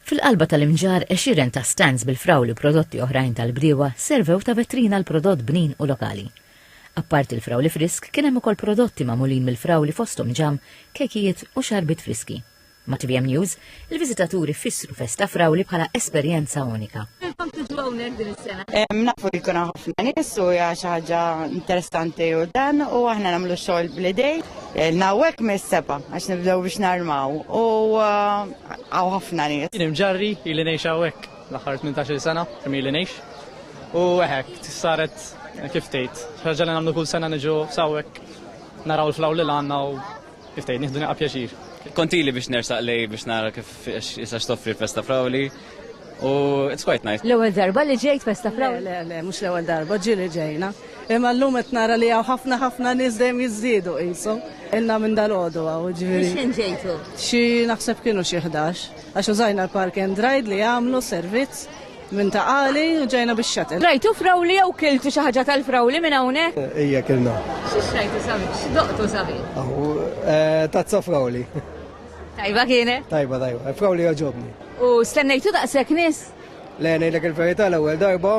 Fil-qalba tal-imġarr għexieren ta' stands bil-frawli u prodotti oħrajn tal-bdiewa servew ta' vetrina għal prodott bnin u lokali. Apparti l-frawli frisk kien hemm ukoll prodotti magħmulin mill-frawli fosthom ġamm, kejkijiet u xarbiet friski. Ma' tvm News, il-viżitaturi fissru Festa Frawli bħala esperjenza unika. Għalfejn tiġu hawnhekk din is-sena? Nafu li jkun hawn ħafna nies u hija xi ħaġa interessanti u dan u aħna nagħmlu xogħol bl-idejn. Ilna hawnhekk mis-sebgħa għax nibdew biex narmaw u Għaw ħafna nies. Jien imġarri ili ngħix hawnhekk l-aħħar 18-il sena kemm ili ngħix. U hekk saret kif tgħid, ħaġa li nagħmlu kull sena niġu sawek naraw l-flaw li għandna u kif tgħid nieħdu pjaċir. Kontili biex nersaq lej biex nara kif jisax toffri festa frawli U it's quite nice. L-ewwel darba li ġejt festa fraw? Le, le, mhux l-ewwel darba, ġieli ġejna. Imma llum qed nara li hawn ħafna ħafna nies dejjem jiżdiedu qisu. Ilna minn dal-għodu hawn ġifieri. X'ħin ġejtu? Xi naħseb kienu xi ħdax. Għax użajna l-park and ride li jagħmlu servizz minn ta' qali u ġejna biex xatel. Rajtu frawli jew kiltu xi ħaġa tal-frawli minn hawnhekk? Ejja kilna. X'rajtu sabi? X'doqtu sabi? Aħu, eh, tazza frawli. Tajba kienet? Tajba, tajba. Efkaw li għagħobni. U stennejtu daqshekk nies? Le, ngħidlek il-verità l-ewwel darba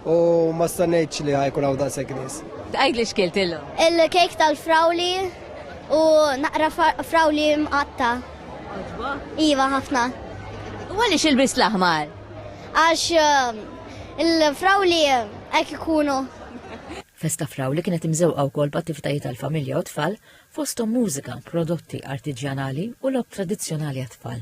u ma stennejtx li ħajkun hawn daqshekk nies. Għid li xkilt illum. Il-kejk tal-frawli u naqra frawli mqatta. Iva ħafna. U għaliex il-bis l-aħmar? Għax um, il-frawli hekk ikunu. Festa frawli kienet imżewqa wkoll b'attivitajiet għall-familja u tfal fosthom mużika, prodotti artiġjanali u logħob tradizzjonali għat-tfal.